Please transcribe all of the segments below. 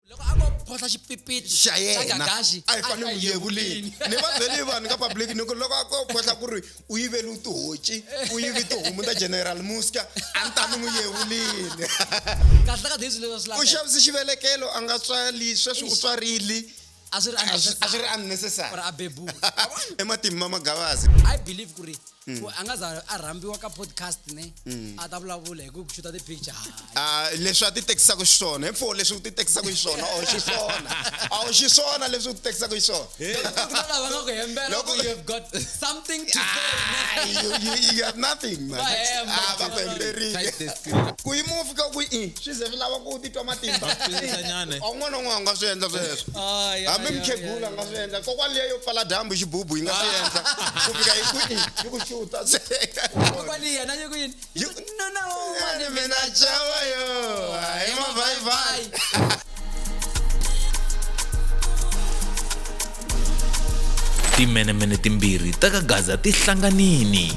loko a vo photla xipipiti xa yena gagaxi a yi fane u yekulini ni va byele vanhu ka public ni ku loko a ko photla ku ri u yivele u tihoci u yivi tihomu ta general muska a ni ta ni n'wi yevulini kahle ka daisy leswi swi u laveka xavise xivelekelo a nga tswali sweswi u tswarile a swi ri a swi- a swi ri unnecessary. or a bebula i matimba magavazi i believe ku ri Hmm. ku a nga za a rhambiwa ka podcast ne a ta vulavula hi ku ku xuta ti-picture hayi Ah, leswi a ti tekisaka xiswona hi pfo leswi u ti tekisaka xiswona a wu xiswona a wu xiswona leswi u ti tekisaka xiswona Ku na lava nga ku hembela Loko- ku you have got something to say Ah, you, you, you have nothing man Va hemba, Ah, va ku hemberile Tight desk. ku yi move ka ku i swi ze swi lava ku titwa matimba un'wana na un'wana nga swi endla sweswo ah, hambi mukhegula nga swi endla kokwani liya yo pfala dyambu hi xibubu yi nga swi ah. endla ku fika hi ku yi ku xuta mina chava yo hi mavhayivhayi timenemene timbirhi ta ka gaza ti hlanganini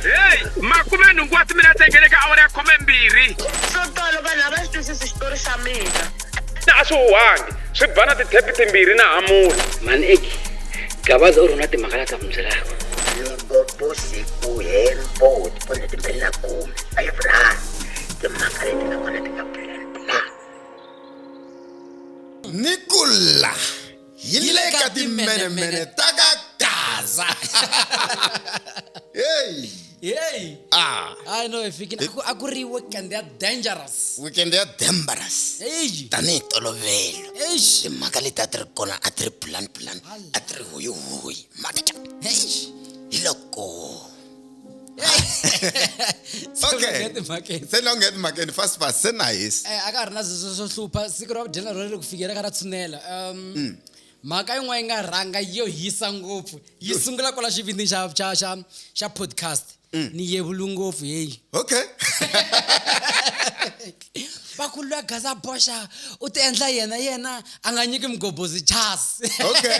heyi makume nhungu wa timinete ngele ka awara ya khume mbirhi swo tolo vanhu a va xi twisisi xitori xa mina na a swi huhangi swi ba na tithepi timbirhi na hamula mani eki gabaza u ri na timhaka la ta n'wi byelaka loko vo siku hemboti kumbe timbirhi na khume a yi vulani timhaka leti nga kona ti nga plan plan ni kula hi le ka timenemene ta ka gaza heyi heyi ah. i know efikile a ku ri weekend ya dangerous weekend ya dangerous eyi tanihi tolovelo eyi timhaka leti a ti ri kona a ti ri plan plan a ti ri hoyihoyi mhaka hi loko okay se no get makeni fast fast se nice eh aka rina zwo zwo hlupha siku ro dyela ro ri ku fikela ka ra tshunela um mm. mhaka yin'wana yi nga rhanga yo hisa ngopfu yi sungula kwala xivindini xa xa xa xa podcast mm. ni yevulu ngopfu heyi okay vakulu ya gaza boxa u ti endla yena yena a nga nyiki mugobozi chas okay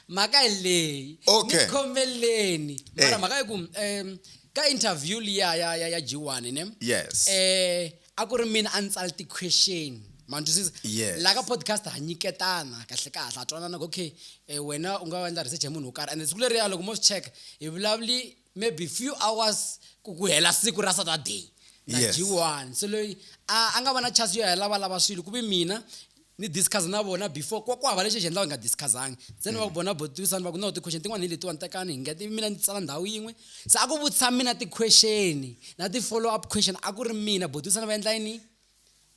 mhaka hi leyi Okay. ni khomeleni Eh. mara mhaka yi ku um ka interview liya ya ya ya G1 ne yes eh a ku ri mina a ni tsala ti-question ma ni twisisa Yes. la ka podcast ha nyiketana kahle kahle ha twanana ku okay eh, wena u nga endla research ya munhu wo karhi and siku leriya loko mo swi cheka hi vulavuli maybe few hours ku ku hela siku ra saturday na yes. g1 so loyi a nga va na chance yo ya lava lava swilo ku vi mina ni discuss na vona before kwa ku hava lexi xi endlaka nga discussanga ntsena va ku bona botisani va ku no ti-question tin'wana hi letiwani tekani hi nga ti mina ni tsala ndhawu yin'we se a ku vutisa mina ti-question na ti-follow up question a ku ri mina botisani va endla yini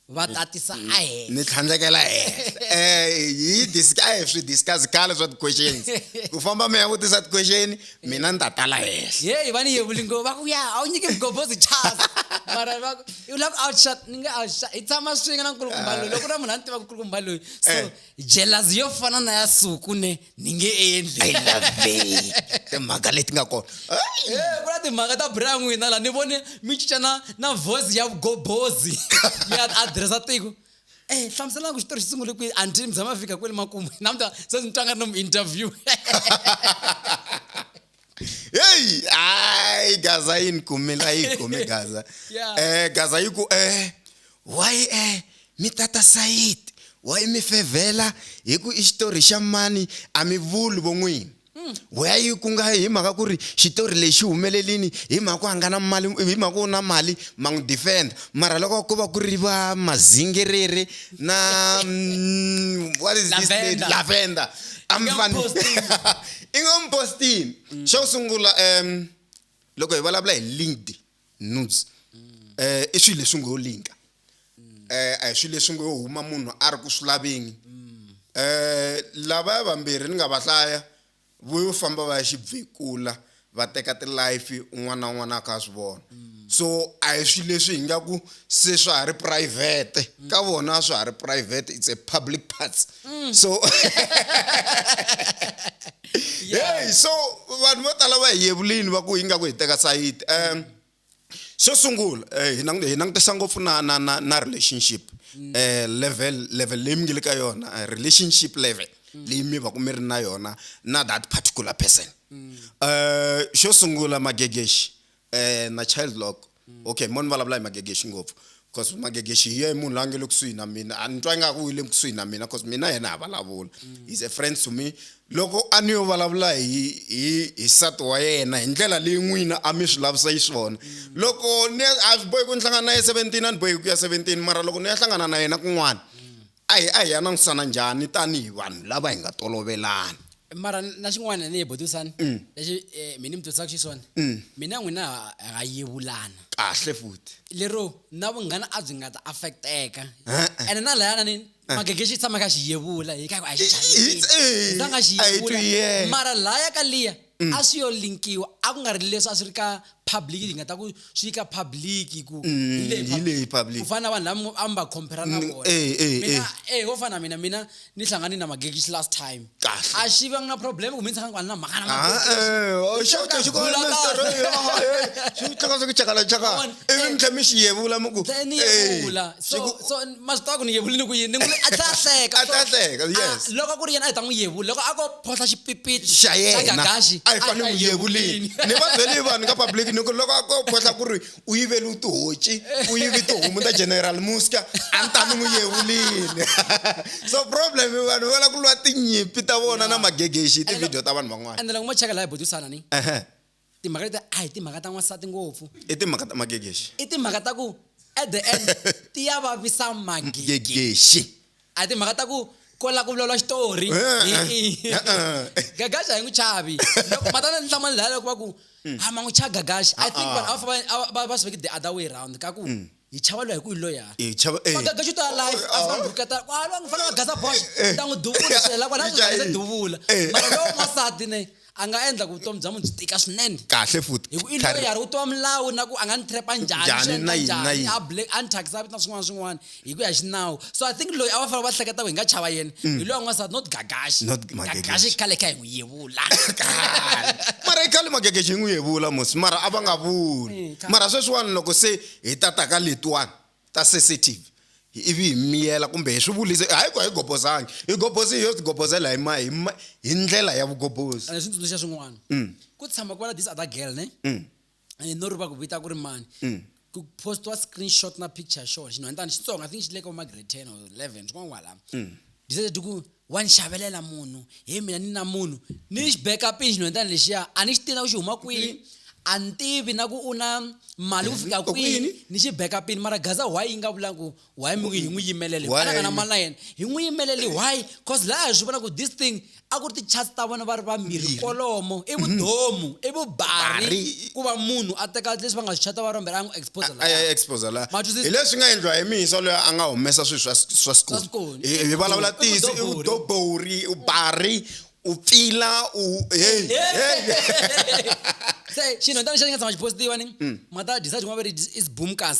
va tatisa ahenhla ni tlhandlekela henhla eh hi discuss a hi swi discuss khale swa ti-questions ku famba mi ya vutisa ti-question mina ni ta tala henhla yeyi va ni yevuli ngo va ku ya a wu nyike mugobhozi chas mara va ku u lava ku outshut ni nge outshut hi tshama swin'we na nkulukumba loyi loko na munhu a ni tiva nkulukumba loyi so eh. jealousy yo fana na ya suku ne ni nge endli i love timhaka leti nga kona eh, ku na timhaka ta bra n'wina laha ni vone mi cinca na na voice ya gobozi mi addressa tiko Eh, hlamuselana ku xitori xi sungule kwihi anti mi tshama fika kwele makumu namuta se ni twanga no mu interview hey ai gaza yi ni kume la yi kume gaza Yeah. eh gaza yi ku eh why eh mi tata sayid why mi fevhela hi ku i xitori xa mani a mi vuli vo n'wini weya yi ku nga hi mhaka ku ri xitori lexi humelelini hi mhaka ku a nga na mali hi mhaka ku u na mali ma n'wi defenda mara loko ko va ku ri va mazingerere na mm, what is this lady? Lavender. lavender a mi Young fani posting. i nga n'wi postini mm. xo sungula um loko hi vulavula hi linked news um i swilo leswi ngo yo linka um a hi swilo leswi ngo yo huma munhu a ri ku swi laveni um lavaya vambirhi ni nga va hlaya vo yo famba va ya xibvekula va teka tilife un'wana na un'wana a kha a swi vona so a hi swilo leswi hi nga ku se swa ha ri private ka vona swa ha ri private it's a public parts Mm. so hey so vanhu vo tala va hi yevulini va ku ingaku hi teka sayiti um xo sungula eh, hi langutisa ngopfu na na na na relationship um level level leyi mi nge le ka yona eh, relationship level mm. leyi mi va ku mi ri na yona na that particular person um xo sungula magegexi eh, na child lock okay mo ni vulavula hi magegexi ngopfu cause magegexi hi ye munhu la nge le kusuhi na mina a ni twa ingaku u le kusuhi na mina cause mina yena ha vulavula he's a friend to me loko a ni yo vulavula hi hi hi sati wa yena hi ndlela leyi n'wina a mi swi lavisa yi swona loko ni a swi bohi ku ni hlangana na ye seventeen a ni bohi ku ya seventeen mara loko ni ya hlangana na yena kun'wana A hi a hi ya langutisana njhani tanihi vanhu lava hi nga tolovelani? Mara na xin'wana ni butisani mm. lexi eh, mi ni mi twisisaka xiswona mm. mina n'wina ha yevulana kahle futhi lero na vunghana a byi nga ta affecteka ene na layana ni magegexi tshama ka xi yevula hi ka a xi xavisa nga xi yevula mara laya ka liya mm. a swi yo linkiwa a ku nga ri leswi a swi ri ka public hi nga ta ku swi yi ka public ku mm, hi leyi public ku fana na vanhu lava a mi va compare na mm, vona eh, eh, mina eh. eh wo fana mina mina ni hlangane na magekish last time a xi va na problem ku mi tshanga kwani na mhaka na ah, eh o oh, xota xi kona na story xi tlaka swi chakala chaka ivi mi tlhe mi xi yevula mi ku eh so so ma swi tiva ku ni yevulini ku yini ni n'wi a tlhela a hleka A tlhela a hleka, Ah, yes. loko ku ri yena a hi ta n'wi yevula loko a ko photla xipipiti xa yena gagaxi a hi fanele n'wi yevulini ni va byele vanhu ka public ni ku loko a ko khohla ku ri u yivele u tihoci u yivi tihomu ta general muska a ni ta ni n'wi yevulini so problem i vanhu va lava ku lwa tinyimpi ta vona na magegexi hi tivhidiyo ta vanhu van'wana ende loko mo cheka laha hi butisana ni Ehe. timhaka leti a hi timhaka ta n'wansati ngopfu i timhaka ta magegexi i timhaka ta ku at the end ti ya vavisa magegexi a hi timhaka ta ku ko la ku vulavula xitori gagaxa hi n'wi chavi matana ni hlamani laya loko va ku a ma n'wi chava gagaxa i think vanhu a va va va swi veke the other way round ka ku mm. hi chava loyi hi ku hi loya hi chava eh magaga xi to alive a fana burketa wa lo ngi fana gaza bosh ta n'wi duvula swi hela kwala swi hela duvula mara lo n'wasati ne a nga endla ku vutomi bya munhu byi tika swinene kahle futhi hi ku i loyi yari u twa milawu na ku a nga ni trap njhani swi endla njhani a black a ni thyakisa vito na swin'wana swin'wana hi ku ya xinawu so i think loyi a va fanele va hleketa ku hi nga chava yena hi loyi n'wasati not gagashi gagashi khale kha hi n'wi yevula mara i khale magagashi hi n'wi yevula musi mara a va nga vuli mara sweswiwani loko se Hi ta ta ka letiwani ta sesetive ivi hi miyela kumbe hi swi vulisa, hayi ku a hi gobozangi, hi gobozile ho tigobozela hi ma, hi ma, hi ndlela ya vugobozi. Ni swi tsundzuxa swin'wana. Ku tshama ku va na this other girl ne, and no rivala ku vita ku ri mani. Ku post-iwa screenshot na picture ya xona xinhwanyatana xitsongo, I think xi le ka vo ma grade ten or eleven, swin'wana kwalano. Ti said ku wa ni xavelela munhu he mina ni na munhu ni xi beka pin xinhwendana lexiya a ni xi tina ku xi huma kwini a ni tivi na ku u na mali ku fika kwini ni xi beka pin mara gaza why yi nga vulangi ku why mi hi n'wi yimelele anaka na mali na yena hi n'wi yimeleli why cause laha hi swi vona ku this thing a ku ri ti-chats ta vona va ri vambirhi kolomo i vudomu i vubari ku va munhu a teka leswi va nga swi chata va ri vambirhi a n'wi exposa laha hi leswi nga endliwa hi mihisa loyi a nga humesa swilo swa swa school Hi hi vulavula ntiyiso i vudobori u bari u pfila u hey hey se xinhu tani xa xi nga tshama xi postiwa ni Mm. mata disa tin'wana va ri i zibumkas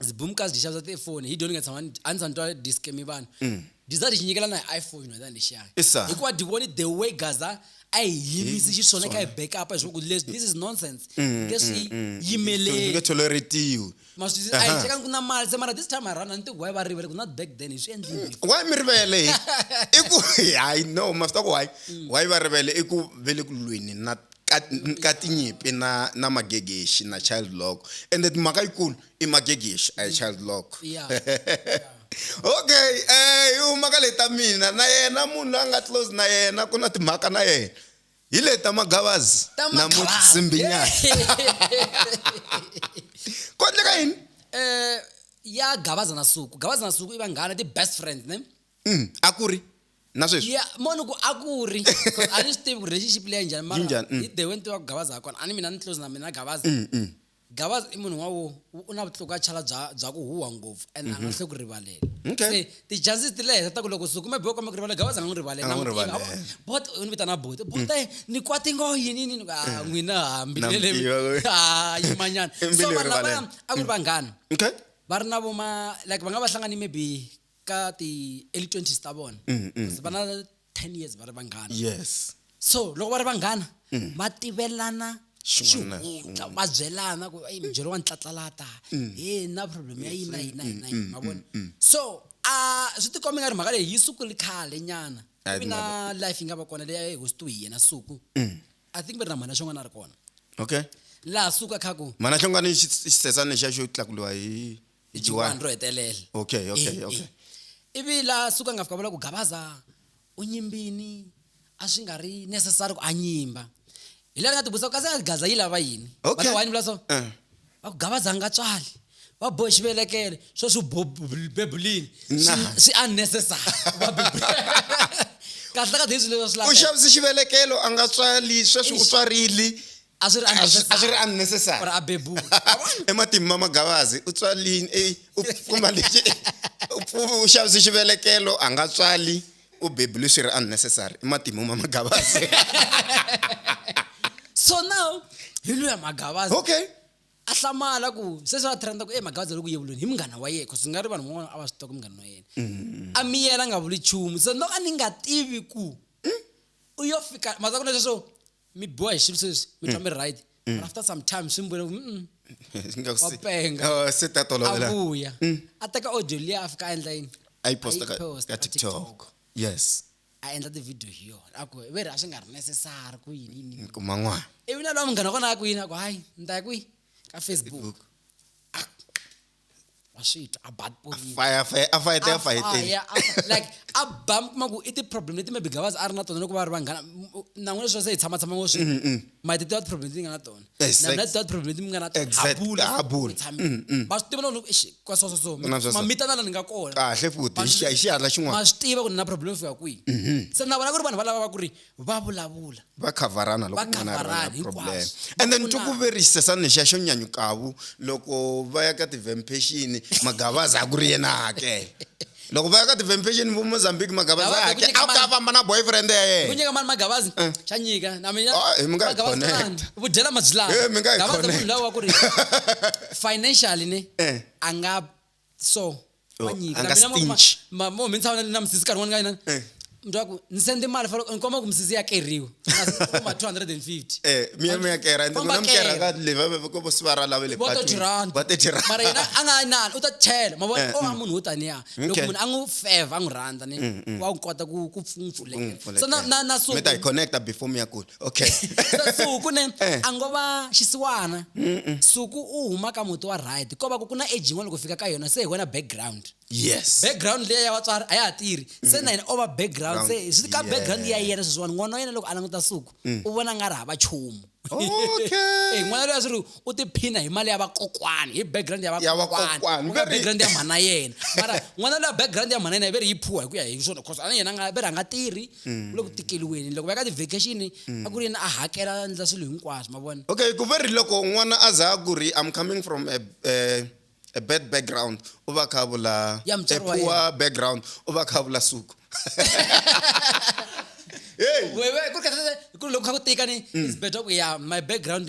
zibumkas dyi xavisa tifoni hi dyoni nga tshama ni- a ni tshama ni twa diskemi vanhu Mm. disa dyi nyikela na hi iphone xinhu tani lexiya Isa. hikuva dyi voni the way gaza a hi yimisi xiswona ka hi backup hi swaku leswi this is nonsense nge swi Mm. nge yimeleli tholoretiwi ma swi a hi Aha. chekanga ku na mali se mara this time around a ni tiku why va rivele ku not back then hi swi endlile why mi rivele hi i ku hayi no ma swi tiva ku why why va rivele i ku ve le ku lweni na ka, ka tinyipi na na magegexi na child lock ende timhaka yikulu i magegexi a hi child lock Yeah. okay eh hi huma ka le ta mina na yena munhu loyi a nga close na yena ku na timhaka na yena hi le ta magavazi Ta na magavazi. mutsimbinyana ku endleka yini eh ya gabaza na suku gabaza na suku i vanghana ti best friends ne Mm, a ku ri na sweswi ya moni ku a ku ri 'Cause a ni swi tivi ku relationship leya njhani mara Yi njhani, mm. hi the way ni tivaka gabaza ha kona a ni mina ni close na mina gabaza Gavaza i munhu n'wawo u na vutlukachala bya bya ku huha ngopfu and a nga mhm. hle ku rivalela okay. se ti-chances ti le henhla ta ku loko sukume bo kwame ku rivalela gavaza a nga n'wi rivalela bot u ni vitana bot bot mm. ni kwati ngo yini yini a ah, mm. n'wina hambi ah, lele a ah, yimanyana so vanhu lavaya a ku ri mm. vanghana okay. va ri na voma like va nga va hlangani maybe ka ti-early twenties ta vona vana 10 years va ri vanghana yes so loko va ri vanghana mm. va tivelana xihundla va byelana ku eyi mubyelo wa ntlatlalata mm. he na problem ya yini na yini na yini na yini mavona so a swi tikombe nga ri mhaka leyi yi sukuli khale nyana ivi na life yi nga va kona leyi a yi hostiwe hi yena suku i think va ri na mhana xin'wana a ri kona okay laha suka khaku mhana xin'wana xisesana lexiya xo tlakuliwa hi Hi hi Juwani. juwani ro hetelela Okay, okay, Eh, okay. eh. ivi la suka nga fika vula ku gabaza u nyimbini a swi nga ri necessary ku a nyimba hi leri nga ti vutisa kasi a gaza yi lava yini Okay. Vana wayini vula so Eh. va ku gabaza a nga tswali va bohe xivelekelo swo swi bo- bebulini swi- Nah. swi unnecessary ku va bebuleni. kahle ka leswi leswi swi u laveka. xavise xivelekelo a nga tswali sweswi u Eish. tswarile a swi ri a swi a swi ri unnecessary or a bebula ematimba ma magavazi u tswalini ey u kuma lexi u xavise xivelekelo a nga tswali u bebule swi ri unnecessary i matimu ma magavazi so now hi luya magavazi okay a hlamala ku sweswi a trenda ku e magavazi loku yevulweni hi munghana wa yena cause nga ri vanhu van'wana a va swi tiva ku munghana wa yena mm. a miyela a nga vuli chumu so no a ni nga tivi ku mm. u yo fika mazaku lesweswo mi biwa hi swilo sweswi mi twa mi ri right but after some time swi mi vona ku mm, Nga ku Wa se- penga. Oh, se ta a tolovela vuya a teka audio liya a fika a endla yini a yi posta ka- posta ka ka tiktok TikTok. yes a endla ti-video hi yona a ku ve ri a swi nga ri necessary ku yini yini yini. kuma n'wana ivi na lowa munghana wa kona a ku yini a ku hayi ni ta ya kwihi ka facebook wa swi twa a bad police fire fire a fight a fight fire a- like a ba mi kuma ku i ti-problem leti maybe gavazi a ri na tona loko va ri vanghana nan'we leswi va se hi tshama tshama ngo swi ma ti tiva ti-problem leti ni nga na tona Na- Exact- na ti tiva ti-problem leti mi nga na tona Exact- habula ha bula. tshami va swi tiva na loko eish, kwa so so so Na swa so. mamitana la ni nga kona kahle futhi hi xi- hi xihatla ma xin'wana swi tiva ku ni na problem yo fika kwihi se na vona ku ri vanhu va lava va ku ri va vulavula va khavarana loko Va un'wana a ri na khavarana problem hinkwaswo. and then Ku na- tukuverise sa nixa xo nyanyukavu loko va ya ka ti-vampation magavaza a ku ri yena a hakela loko va ya ka ti-vampation vo mozambique magavaza a Gavaza, ku hakela nyika a ku ta mali. famba na boyfriend ya ku yena nyika mani magavazi xa nyika na mina Ah, eh, mi nga hi Magavazi connect. lani, vu dyela mazilani Eh, mi nga hi Gavaza munhu connect. loyi wa ku ri financially ne Eh. a nga so Oh, wanyika anga Mina mwa- stingy. ma- mo mhintsa wena na musisi karhi wani ka yena Eh. mntu waku ni sende mali falo ni komba ku musisi ya keriwe ma 250 Eh, miya miya kera ende Komba kona mukera kera. ka leva ve ko bo sivara lave le Bo 30 rand. ba 30 rand mara yena a nga yi nani u ta chela ma vona Eh, o a munhu wo taniya loko Okay. munhu a n'wi feva a n'wi rhandza ni wa n'wi kota ku ku pfu- n'wi pfulekela so na na na so mi ta hi connecta before mi ya kula okay suku ne eh. a ngo va xisiwana suku u huma ka muti wa right ko va ku ku na age yin'wana loko fika ka yona se hi wena background yes background leyi ya vatswari a ya ha tirhi se na yena o va background se swi ka background ya yena sweswiwani n'wana wa yena loko a languta suku mm. u vona nga ri hava chumu okay eh, n'wana loyi a swi ri u tiphina hi mali ya vakokwani hi background ya vakokwani u nga background ya mhana yena mara n'wana loyi a background ya mhana yena yi ve ri yi phuwa hi ku ya hi swona cause a na yena a nga ve ri a nga tirhi mm. ku le ku tikeliweni loko va ya ka ti-vacation mm. a ku ri yena a hakela a ndla swilo hinkwaswo ma vona okay ku ve ri loko n'wana a za a ku ri i'm coming from a, a, a bad background u va kha vula a poor background u va kha vula suku hey. ku ri kha ku tika ni mm. is better ku ya my background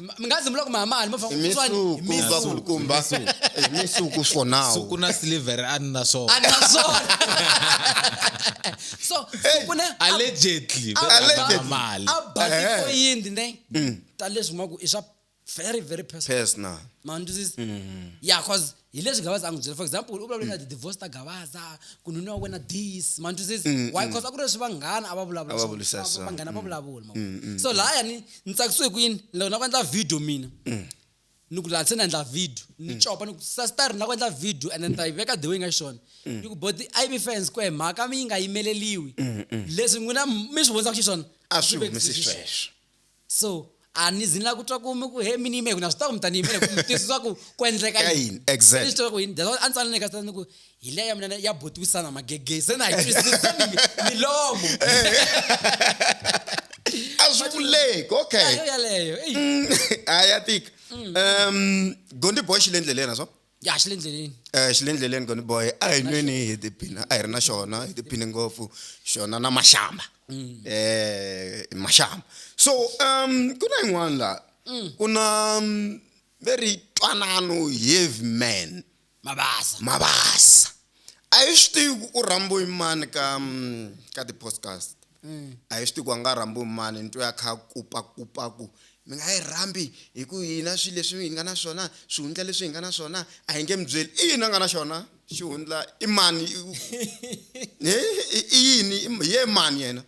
M- mi nga zimula ku mi hama hali mi fa- ku swa ni? misuku Misuku. va ku kumba Eh, misuku for now suku na silivhere a ni na swona A ni na swona. so suku ne a- allegedly a- Allegedly. a- mali a Eh. bakikoyindi ne Mm. ta leswi ma ku i swa very very personal personal ma ndzi ya cause hi leswi gavaza a n'wi byela for example u vulavule na ti-divorce ta gavaza ku nuna wa wena this mantu says why because a ku ri leswi vanghana a va vulavula A va swona. vulisa Va- swona. vanghana va vulavula ma vona. so laya ni ni tsakisiwe ku yini loko na ku endla video mina ni ku laha se ni endla video ni copa ni ku sastar na ku endla video and ni ta yi veka the way yi nga xiswona ni ku boti i be fans ku e mhaka mi yi nga yimeleliwi leswi n'wina mi swi vondzaka xiswona a swi humesi sweswo so a ni zini la ku twa ku mi ku he mi ni yime ku na swi ta ku mi ta ni yimele ku mi twisisa ku ku endleka Ka yini? yini Exactly. Ni swi tiva ku yini that's why a ni tsanile ka sitani ni ku hi leya mina ya botiwisana magegezi se na hi twisisa mi- milomo a swi vuleki okay yo yaleyo eyi a ya tika um gondiboy xi le ndleleni a swo ya xi le ndleleni eh xi le ndleleni goni boy a hi nweni hi tiphina a hi ri na xona hi tiphine ngopfu xona na maxamba mm. eh maxamba so um ku na yin'wana la mm. ku na um, very twanano heavy man mabasa mabasa a yi swi tivi ku u rhambo yimani ka um, ka ti-podcast A hi swi tivi ku a nga rhambiwi hi mani, ni twe a kha a kupakupa ku, Mi nga yi rhambi hi ku hina swilo leswi hi nga na swona, swihundla leswi hi nga na swona a hi nge mi byeli. I yini a nga na xona? Xihundla? I mani? I yini? Hi yena mani yena?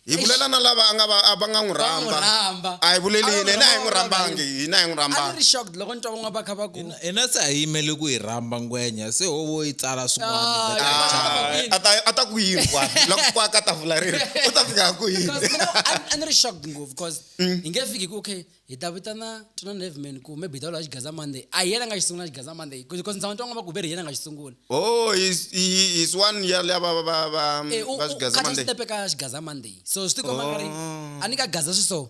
Hi vulela na lava a nga va a va nga n'wi rhamba. A hi vuleli yini? Hina a hi n'wi rhambangi. Hina a hi n'wi rhambangi. A ni ri shocked loko ni twa van'wana va kha va ku. hina se hi yimele ku yi rhamba ngwenya se hovo yi tsala swin'wana a ta a ta ku yini kwani loko kwa ka tafula rero u ta fika ku yini Because, you know, a a ni ri shocked ngopfu because hi nge fiki ku okay hi ta vitana tuna nevman ku maybe hi ta vula xigaza monday a hi yena nga xi sungula xigaza monday because ndzawa ntwango va ku veri hi yena nga xi sungula oh is i- is one year leya va va va va Eh, u- va u- swigaza khatha mande xitepe ka xigaza monday so swi tikomba nga ri Oh. a ni ka gaza swi so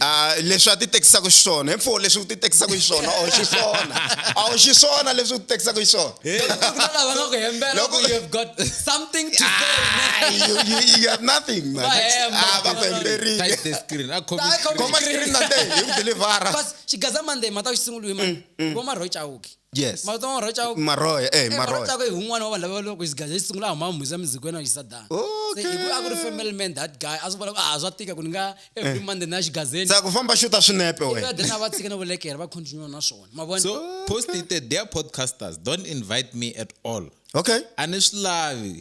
Ah, leswi a ti tekisaka xiswona hemfo leswi u ti tekisaka xiswona a wu xiswona a wu xiswona leswi u ti tekisaka xiswona vomarhoy chauki yes mara tona rocha ku maroya eh mara maroya rocha ku hi un'wana wa vanhu lava loko xi gaja xi sungula huma mhisi ya mizikweni a xi sadana Okay. se hi ku a ku ri family man that guy a swi vona ku a swa tika ku ni nga every monday na xigazeni sa ku famba xuta swinepe Ivi wena then a va tshika na vulekere va continue na swona ma vona so post it there, dear podcasters don't invite me at all okay a ni swi lavi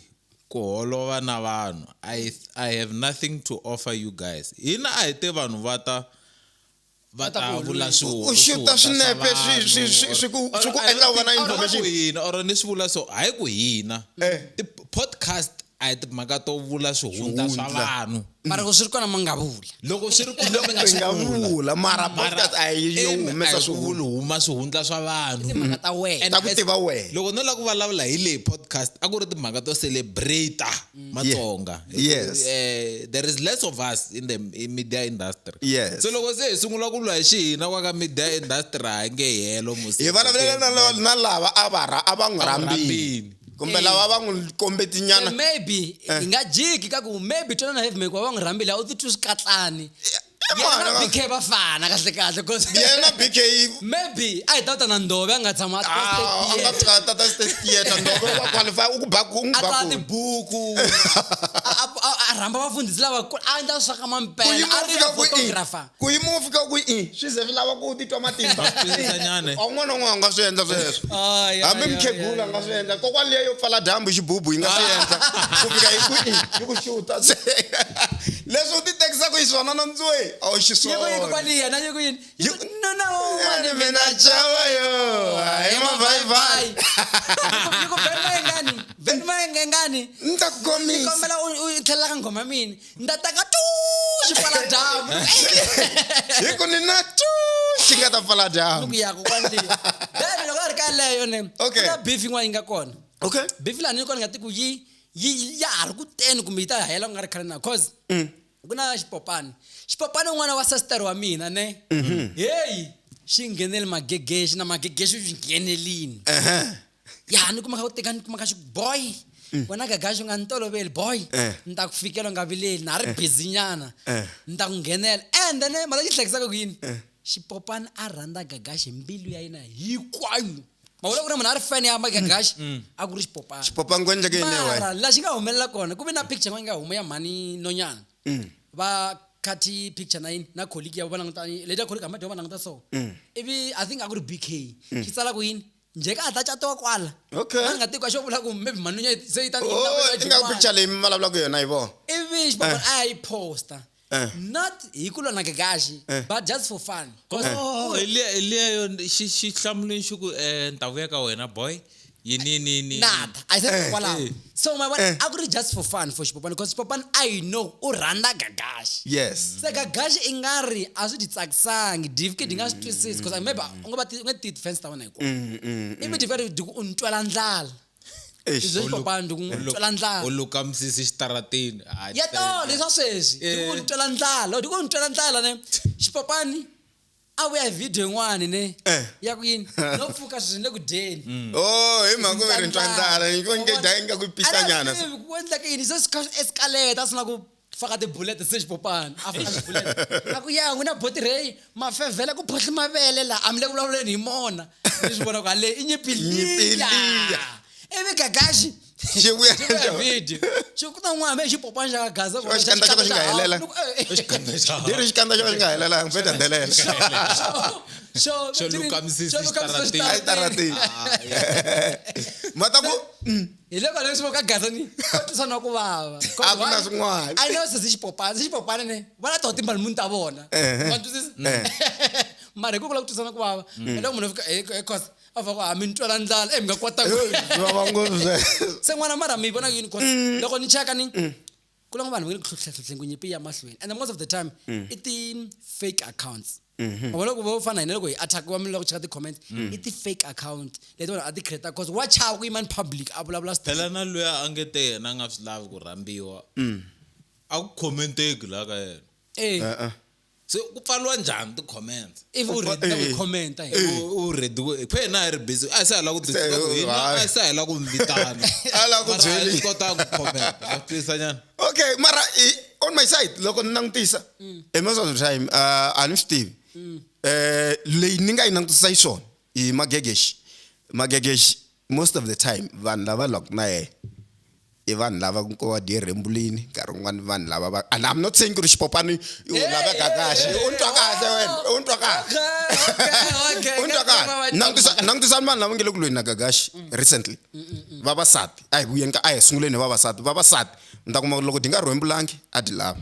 ku holova na vanhu I, i have nothing to offer you guys hina a hi te vanhu va ta va ta vula swihuku u xuta swinepe swi ku endla u va na information hina or ni swi vula so hayi ku hina eh. ti-podcast a hi timhaka to vula swihundla swa vanhu mara loko swi ri kona mi nga vula loko swi ri kona mi nga vula mara podcast a yi yo humesa swihulu huma swihundla swa vanhu timhaka ta wena ta ku tiva wena loko no lava ku vulavula hi leyi podcast a ku ri timhaka to celebrate matsonga Hi ku, Yes. eh, there is less of us in the in media industry Yes. so loko se hi sungula ku lwa hi xihina kwa ka media industry ha nge helo musi hi vulavulele na la- na lava a va ra- a va n'wi rhambini rhambini. kumbe Eh. lava va n'wi Se kombetinyana maybe hi nga jiki ka ku maybe twanana heavy mike wa va n'wi rhambile a wu titwi swikatlani yena na bk va fana kahle kahle bcause yena na bk maybe a hi ta u ta na ndove a nga tshama a ah, a nga tshika tata state theatre ndove wa qualify u ku baku u n'wi a tsala baku tibuku a- a- a- a rhamba vafundhisi lavakulu a endla swa ka mampela a kuyimo ri fika na ku i photographer kuyimo fika ku i swi ze swi lava ku u titwa matimba Twisisanyane. a un'wana na un'wana a nga swi endla sweswo Ay, ay, hambi ay, mukhegula ay, nga swi endla kokwana leyo pfala dyambu xibubu yi nga swi endla ku fika hi ku i yi ku xuta se leswi u titekisaku hi swona nondzue a wu xiswona kwali yena yi ku yini yi ku nuna wun'wana mina chava yo hi mavhayivhayi yi ku vheni mayengani vheni mayengengani ni ta ku komisa kombela u tlhelela ka nghoma mina ni ta taka tu xi pfala dyambu hi ku ni na tu xi nga ta pfala dyambu ku yaka kwali then loko a ri ka leyo ne okay na beef yin'wana yi nga kona okay beef lani yi kona nga ti ku yi yi yi- ya ha ri ku teni kumbe yi ta hela ku nga ri khale na cause Mm. ku na xipopani xipopani un'wana wa sasitari wa mina ne Mm-hmm. heyi xi nghenele magegexi na magegexi xi nghenelini Ehe. ya ni kumaka u teka ni kumaka xi boy wena gagaxi u nga ni toloveli boy Mm. Eh. ni ta ku fikela u nga vileli na ha ri busy nyana Eh. ni ta ku nghenela and then mara xi hlekisaka ku yini xipopani a rhandza gagaxi hi mbilu ya yena hinkwayo mavula ku ri munhu a ri fan ya magagaxi mm. a ku ri xipopana xipopana ku endleke yini mara la xi nga humelela kona ku ve na picture nga huma ya mhani nonyana mm. va khathi picture na yini na colleague ya va languta leta colleague hamba va languta so mm. ivi i think a ku ri bk xi tsala ku yini nje ka hatla catiwa kwala okay a nga tiko xo vula ku maybe mhani nonyana se yi ta oh, ingaku picture leyi mi vulavulaka yona yi vona ivi xipopana eh. a yi posta Eh. not hi ku lona kakaxi Eh. but just for fun Oh, hi le- hi leyo xi xi hlamuleni xi ku um ta vuya ka wena boy yini yini yini nada i said Eh. kwalaho Eh. so my Eh. a ku ri just for fun for xipopani because xipopani i know u rhandza gagaxi yes se gagaxi i nga ri a swi ti tsakisangi dvk di nga swi twisisi because maybe u nga va ti- u nga ti defense ta wena hinkwayo Mm, mm, mm. ivi dvk di ku u ni twela ndlala Eish. Leswi papani ndi ku n'wi twela ndlala. u luka misisi xitarateni Hayi, ya xitarateni. tolo leswa sweswi ndi ku Eh. ni twela ndlala ndi ku ni twela ndlala ne xipapani a vuya hi video yin'wani ne Eh. ya ku yini no pfuka sweswi ni le ku dyeni Oh, hi mhaka ku ve ri ntwa ndlala. Inge dya inga ku pixanyana. Ku endleka yini se swi kha swi escalate a swi na ku faka tibulete se xipopana a faka tibulete a ku ya n'wina botirheyi mafevhela ku phohli mavele laha a mi le ku vulavuleni hi mona ni swi vona ku haleyi i nyipiliya ivi gagaxi xi vuya video xi ku ta n'wana me xipopana xa ka gaza kona xikandza xo ka xi nga helela ni ri xikandza xo ka xi nga helela ngi fe dandelela xo xo lukamisisa xitaratini ma ta ku hi le kwale swi ka gaza ni ko tisa na ku vava a ku na swin'wana a no sisi xipopana sisi xipopana ne va la to timba munhu ta vona wa twisisa mara hi ku kula ku tisa na ku vava hi loko munhu fika hi cause a va ku a mi ntwela ndlala e mi nga kwata ku va va ngopfu se n'wana mara mi vona yini cause loko ni cheka ni ku lava vanhu va nge ku hluhluhleni ku nyimpi ya mahlweni and most of the time mm. i ti-fake accounts mm-hmm. ma vona ku vo fana hina loko hi attack wa miloko cheka ti-comment mm. i ti-fake account leti vanhu a ti creata cause wa chava ku yima ni public a vulavula phela na loyi a nge te yena a nga swi lavi ku rhambiwa a ku commenteki laha ka yena eh. uh-uh. se ku pfaliwa njhani ti-comments if u read na ku Eh. comment hi U- u ready ku phe hina hi ri busy a hi sa ha la ku Se, twisisa ku hina hayi. a hi sa ha la ku mi vitana A la ku Mara a hi byeli. swi kotanga ku comment ma twisisa nyana okay mara i, on my side loko ni langutisa e most of the time uh, a ni swi tivi eh leyi ni nga yi langutisa yi swona i magegeshi magegeshi most of the time vanhu lava lwaku na yena i vanhu lava ku va dye rembulini nkarhi wun'wana i vanhu lava va and i'm not saying ku ri xipopani i u laveka kahle u ni twa kahle wena u ni twa kahle u ni twa kahle langutisa langutisani vanhu lava nge le ku lweni na gagaxi mm. recently vavasati a hi vuyeni ka a hi sunguleni hi vavasati vavasati mi ta kuma loko di nga rhwembulangi a di lava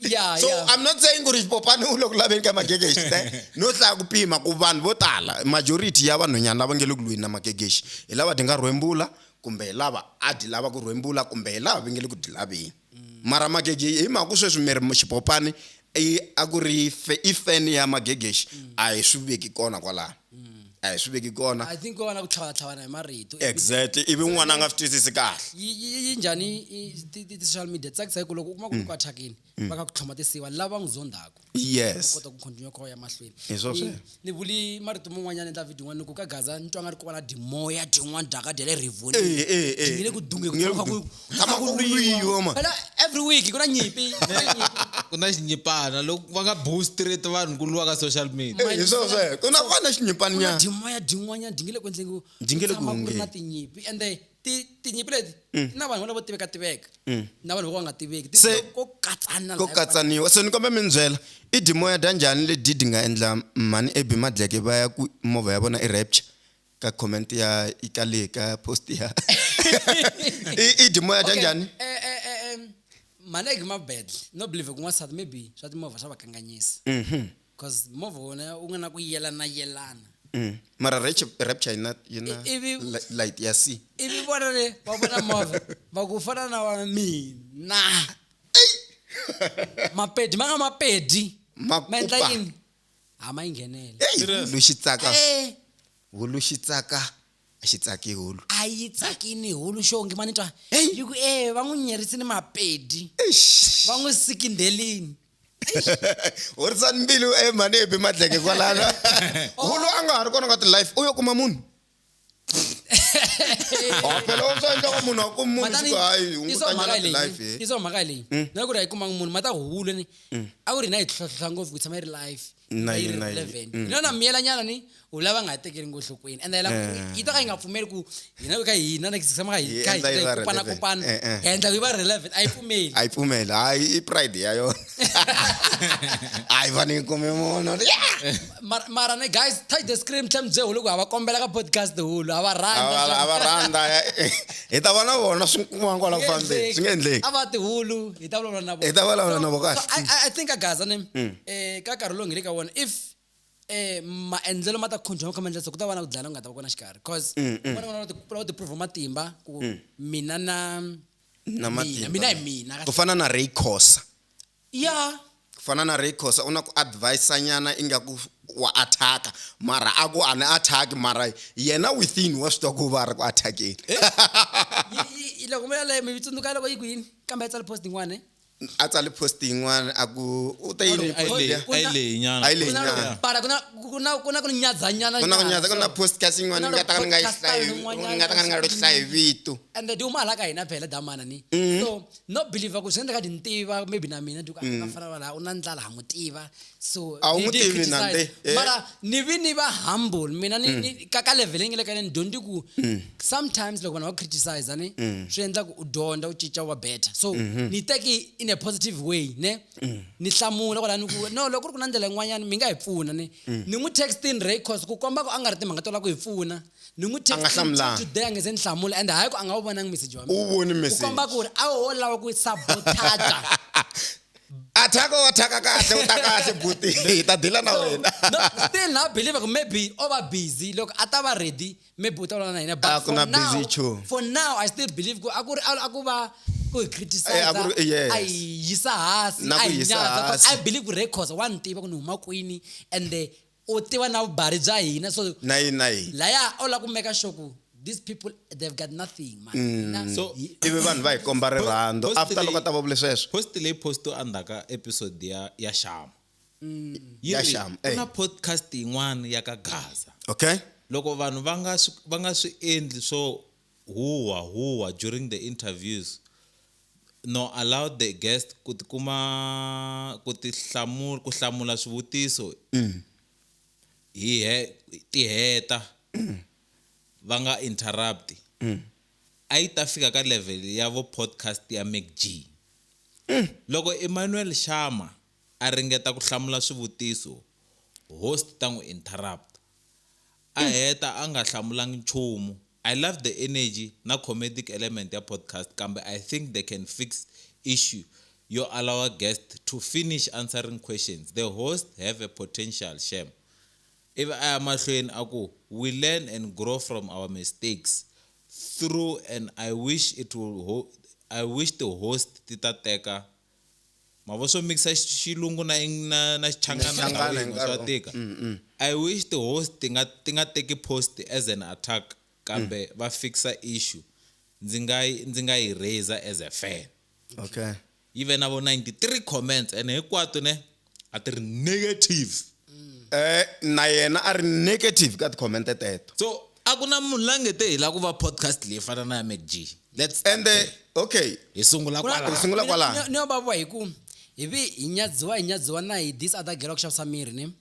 yeah, so yeah. i'm not saying ku ri popani u le ku laveni ka magegexi te no hlaya ku pima ku vanhu vo tala majority ya vanhwanyana lava nge le ku lweni na magegexi hi lava ti nga rhwembula kumbe hi lava a ti lava ku rhwembula kumbe hi lava va nge le ku ti laveni mara magegexi hi mhaka ku sweswi miri xipopani a ku ri i feni ya magegexi a hi swi veki kona kwalaho a hi swi veki kona i think ko va na ku tlhavatlhavana hi marito exactly ivi n'wana a nga swi twisisi kahle yi yi- yi njhani i- ti- ti- ti-social media tsakisa hi ku loko u kuma ku ri ku athakini va nga ku tlhoma tinsiva lava n'wi zondaku yes kota ku continue ku ya mahlweni Hi swo Ni- sweswo. ni vuli marito man'wanyana endla video n'wana ni ku ka gaza ni twa nga ri ku va na dimoya dyin'wana dyaka dya le rivoni Eh, eh, eh. Dyi nge le ku dungeni Nge le ku ku kha ku- lama ku lwiwa ma phela every week ku na nyimpi ku na nyimpi. ku na xinyipana loko va nga bow straight vanhu ku lwa ka social media Eh, hi swona sweswo ku na ku va na xinyipani Ku na nyana dimoya din'wanyana dingile ku endleni ku Dingile ku tshama ku ri na hungeni. tinyimpi ende ti- tinyimpi leti ti na vanhu lavo tiveka tiveka na vanhu vo ka nga tiveki Ti- Se- ko katsana ko laha- katsaniwa so ni kombe mi ni byela i dimoya dya njhani ledi di nga endla mhani ebi madleke va ya ku movha ya vona i rapture ka comment ya ikale ka post ya i i dimoya ta njhani eh, eh, eh, eh, maleki ma bad no believe ku n'wansati maybe swa timovha swa va kanganyisa Mhm. because movha wona wu nga na ku yelana yelana Mm. mara rap- rapture yina yina I- ivi- li- light ya c ivi vona le va vona movha va ku fana na wa mina mapedi ma nga mapedi Ma ma endla kupa. yini a ma yi nghenele Eyi, hulu xi tsaka Eh, hulu xi tsaka a xi tsaki hulu a yi tsakini hulu xongi ma ni twa Hey. yi ku e va n'wi nyerisini mapedi Eish. va n'wi sikindhelini horisani mbilu e manebi madleke kwalano hulu a nga ha ri kona ka ti-life u yo kuma munhu Ah, phela u swi endla ka munhu a ku munhu Matani, siku hayi i hunguta swa mhaka nyana leyi life i swa mhaka leyi Mm. na ku ri a yi kumanga munhu mata huhule ni Mm. a ku ri na yi tlhotlhotlha ngopfu ku tshama yi ri life Na yi- na yi- relevant mm. yona miyela nyana ni u lava nga ha tekeli ngohlokweni ende la Eh. yi ta ka yi nga pfumeli ku hina ka hina na tshama ka Yi hi- ka hi endla yi va kupana relevant. kupana Eh, eh. hi endla yi va relevant a yi pfumeli a yi pfumeli hayi i pride ya yona hayi va ni yi kume munhu Yeah! Mara- mara ne guys touch the screen mtlhe mdze hulu ku hava kombela ka podcast hulu hava a va- a va rhandza eh, hi ta vona vona swi kuma kwala ku fambeni swi nga endleki a va tihulu hi ta vulavula na vona. Hi ta vulavula na vona, kahle. So, I, I- I think agaza ne eh, ka nkarhi lowu nge le ka wona if eh, maendlelo ma ta khonjha ma kha maendlelo ku ta va na ku dlana ku nga ta va kona xikarhi cause vona vona va ti- va ti prove matimba ku mina na na mina matimba. mina hi mina ku fana na ray cosa Ya. Ku fana na Ray Khosa u na ku advise nyana ingaku wa attack-a mara a ku a ni attack-i mara yena within wa swi twa ku va a ri ku attack-eni. Yi yi yi loko mi yaleyo mi tsundzuka loko yi ku yini? Kambe a tsale post yin'wana ne? A tsale post yin'wana a ku u te yini Ayi post leyi, liya? ayi leyi nyana. Ayi leyi Ku na nyana. ku pala ku na ku na ku na ku ni nyadzanyana. Ku na ku nyana, nyadza ku na so- post kasi yin'wana Ku ni na nga ta ka ni nga yi podcast hlayi, yin'wanyana ni nga ta ka ni nga lo hlaya hi vito. and they do mala ka hina phela damana ni so no believer ku swi endleka ni tiva maybe na mina ti ku mm. fana va laha u na ndlala ha mu tiva so a wu n'wi tivi nande eh. mara ni vi ni va humble mina ni mm. ka ka level nge le ka ni dyondzi ku mm. sometimes loko vanhu va criticize ni swi endla ku u dyondza u cinca wa better so mm-hmm. ni teki in a positive way ne ni hlamula kwala ni ku no loko ku ri ku na ndlela yin'wanyana mi nga hi pfuna ni ni n'wi textin records ku komba ku a nga ri timhaka to lava ku hi pfuna ni n'wi A nga text until hlamulanga. today a nge se ni hlamula and hayi ku a nga wu vonangi message wa mina u voni ku komba message ku ri a wo lava ku sabotaja athaka wa thaka kahle u ta kahle buti hi ta dila na wena no, still na believer ku maybe o va busy loko a ta va ready maybe u ta vulavula na hina A but ku for na busy now chu. for now i still believe ku a ku ri a ku va ku hi Eh, a criticize ku ri- yes. a hi yisa hansi Na a ku hi yisa nyadza 'cause hansi. i believe ku records wa ni tiva ku ni huma kwini and eh, u tiva na vubari bya hina so na yini na yini laya u la ku meka sure ku these people they've got nothing man mm. so ivi vanhu va hi komba rirhandzu after loko a ta va vule sweswo post leyi posto endzhaka episode ya ya shama mm. ya shama ku na eh. podcast yin'wana ya ka gaza okay loko vanhu va nga swi va nga swi endli swo Huwa huwa during the interviews no allow the guest ku ti kuma ku ti hlamula ku hlamula swivutiso hi he ti heta va nga interrupt a yi ta fika ka level ya vo podcast ya Mac G loko Emmanuel Shama a ringeta ku hlamula swivutiso host ta n'wi interrupt a heta a nga hlamulangi nchumu. I love the energy na comedic element ya podcast kambe I think they can fix issue yo allowa guest to finish answering questions. The host have a potential shame. Ivi a ya mahlweni a ku, We learn and grow from our mistakes. Through and I wish it will ho I wish ti host ti ta teka mavonso mixa xilungu na na na xichangana hinkwaswo swa tika mm, mm. i wish the host ti nga ti nga teki post as an attack kambe mm. va fixa issue ndzi nga ndzi nga yi raiser as a fan okay yi ve na vo 93 comments and hinkwato ne a ti ri negative eh na yena a ri negative ka ti-comment teto so a ku na munhu la nge te hi la ku va podcast leyi fana na ya mcg let's ende okay hi sungula Ku na- kwala Hi sungula mina- kwalaho. ni- ni yo babuwa hi ku hi vi hi nyadziwa hi nyadziwa na hi this other girl wa ku xavisa miri ni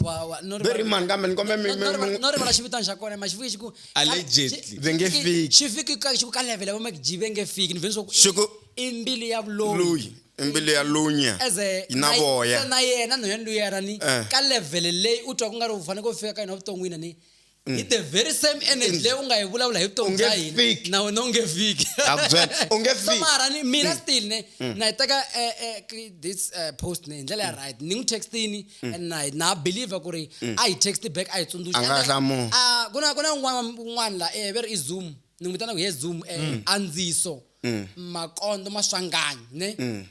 Wa- wa- no rivala- very man kambe ni kombe mi- no- no mi- rivala- mi- no rivala xivitani xa kona ma xi fiki xi ku Allegedly. Ve nge fiki. xi fiki ka xi ku ka level ya va mcg ve nge fiki ni veni swa ku Xi ku- i mbili ya vuloyi Loyi. i mbilu ya lunya as a yi na na- voya na yena no yena luya ra ni Eh. ka level leyi u twa ku nga ri u fanele ku fika ka yona vuton'wini ni hi the very same energy leyi u nga yi vulavula hi vutomi Mm. Unge bya hina fiki. na wena u nge fiki Ha ku byela, u nge So fiki. Mm. mara ni mina still ne na yi teka eh, eh, ki- this eh, post ne hi ndlela Mm. ya right ni n'wi textini and na yi- na believer ku ri a yi text back a yi tsundzuxa A nga And then, hlamuli. ah, ku na ku na un'wana un'wana la eh, ve ri i zoom ni n'wi vitana ku he zoom eh, andziso mm. makondo maswanganyi ne mm.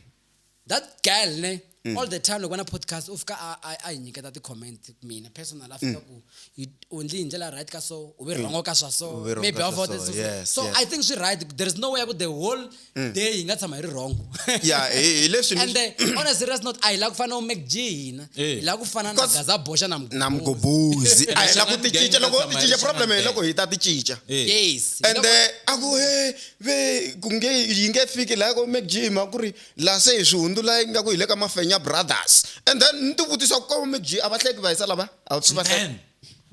that girl ne mm. all the time loko na podcast u fika a hi nyiketa ti-comment mina personal a fika mm. ku u ndli hi ndlela right ka so u ve mm. rhongo ka swa so maybe a vote so, yes, so yes. i think swi right there is no way ku the whole mm. day hi nga tshama hi ri wrongo yeah hi leswi and the, on a serious note a hi la ku fana u make g hina eh. hi la ku fana na gaza boxa na na mgobuzi a hi la ku ti cinca loko ti cinca problem hi loko hi ta ti cinca eh. yes and the a ku he ve ku nge yi nge fiki laha ko Mac G mhaka ku ri laha se hi swi hundzula yi nga ku hi le ka Mafenya Brothers and then ni ti vutisa ku ka Mac G a va hleki va hisa lava a va pfi va hleka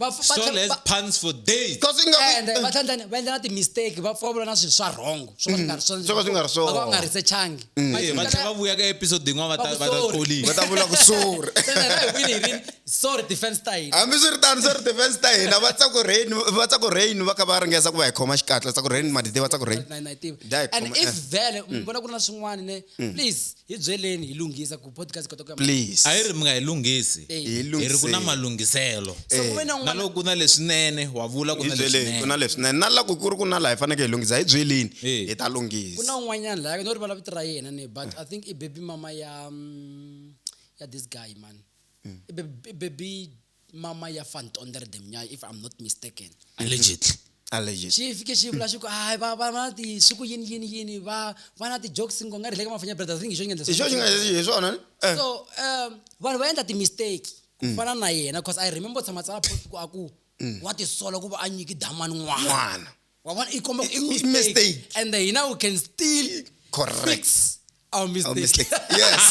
Man, Va- va- Saul has va- puns for days. because i nga Eh, and then va tlhela va endla na ti-mistake va pfavula na swilo swa wrong swo ka swi nga ri swona. Swo ka swi nga ri swona. Va ka va nga researchangi Mm. Manje va tlhela va vuya ka episode yin'wana va ta va ta Sorry. va ta vula ku sure sorry defense ta hina hambi swi ri tano swi ri defense ta hina va tsaku rain va tsaku rain va ka va ringesa ku va hi khoma xikatla tsaku rain ma ti tiva tsaku rain Na- na yi tiva. Dai, and khoma- if eh. vele mi vona ku ri na swin'wana ne please hi byeleni hi lunghisa ku podcast kota ku ya please a yi ri mi nga yi lunghisi Hi hi ri ku na lunghiseni. malunghiselo So ku ve na na un'wana- loko ku na leswinene wa vula ku hi na byeleni ku na leswinene leswinene na laku ku ri ku na laha hi fanekele hi lunghisa hi byeleni Eh. hi ta ku na lunghisa un'wanyana laha no rivala vito ra yena ne but i think i baby mama ya mm, ya this guy man I baby- i baby mama ya van tonder de mnyai if i'm not mistaken allegedly allegedly xi fike xi vula xi ku hayi va va va na ti swi ku yini yini yini va va na ti-jokes ngo nga ri le ka mafanya brothers ring hi xo ngendla hi xo xi nga hi swona ni? Eh, so um vanhu va endla ti-mistake ku fana na yena because i remember tshama tsala post ku a ku wa tisola ku va a nyiki damani n'wana n'wana wa vona i komba I- i mistake. and then hina we can still correct fix our Our mistake, mistake. yes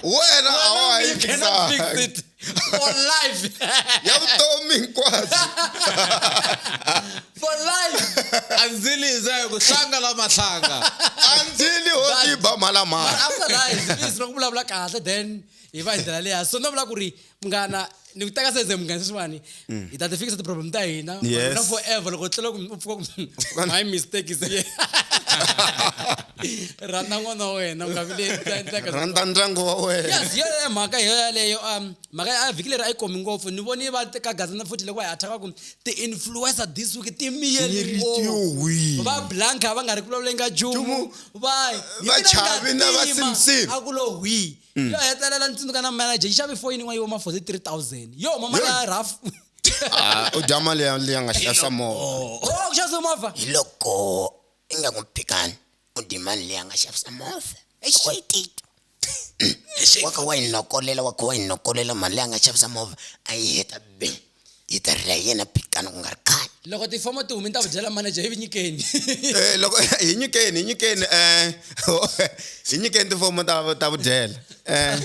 wena a wa ha yi you cannot fix fixanga. it for life ya vutomi hinkwabyo for life andzili hi zayo ku hlanga la mahlanga andzili ho tiba mhalamhala after life please loko vulavula kahle then hi va hi ndlela leya so no vula ku ri munghana ni ku teka sense munghana sweswiwani mm. hi ta ti fikisa ti-problem ta hina na forever loko tlhela u pfuka ku my mistake is here rhandza n'wana wa wena nga vilerhandza ndyangu wa wenaes yo mhaka hi yo yaleyo um mhaka a vhiki leri a yi komi ngopfu ni voni va ka gazana futhi loko hi athaka ku ti-influencer this week ti miyeli ngopfu va blanka va nga ri ku vulavuleni ka jumu va va chavi na va simsim a ku lo hwii mm. yo hetelela ni tsundzuka na manager yi xave foyini yin'wana yi voma for 3000 yo huma mali ya raf ah, u dya mali ya leyi nga xasa movha oh, ku xavisa movha hi loko i nga ku phikani u dyi mali leyi nga xavisa movha exitito wa kha wa yi nokolela wa kha wa yi nokolela mali leyi a nga xavisa movha a yi heta bini yi ta rila hi yena pitana ku nga ri khale loko tifomo ti humi ni ta ku byela manager hi vinyikeni eh, loko hi nyikeni hi nyikeni um hi nyikeni tifomo ta ta vudyela um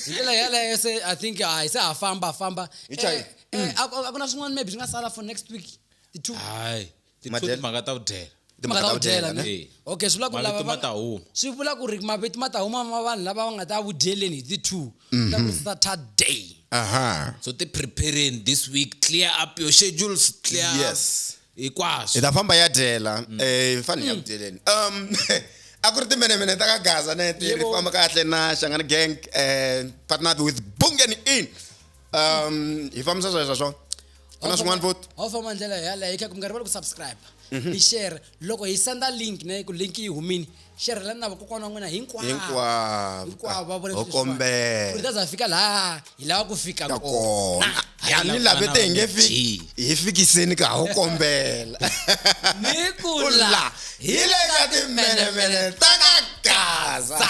hi ndlela yeleyo se i think hayi se ha famba famba eh, a ku na swin'wana maybe swi nga sala for next week ti-two hayi ti two Madyelo. timhaka ta ku dyela timhaka ta ku dyela ne Eh. okay swi vula ku lava mavito ma va- ta huma swi vula ku ri mavito ma ta huma ma vanhu lava va nga ta vudyeleni hi ti-two Mhm. ta ku saturday aha so ti prepareni this week clear up your schedules clear up Yes. hi hinkwaswo ta famba ya dyela Mm. eh hi fanele ya ku dyeleni um a ku ri timenemene ta ka gaza ne ti ri Yebo. famba kahle na xangani gang eh partnered with bungeni in um hi fambisa sweswo swona ku na swin'wana futi ho famba ndlela yaleyo hi kha ku nga rivali ku subscribe mhm. hi share loko hi senda link ne ku link yi humini xerhelani na vakokwana wa n'wina hinkwavohinkwavo va vona kombela ta za fika laha hi lava ku fika kona ya ni lave te hi nge fiki hi fikiseni ka ho kombela ni ku la hi le ka timbelemele ta ka gaza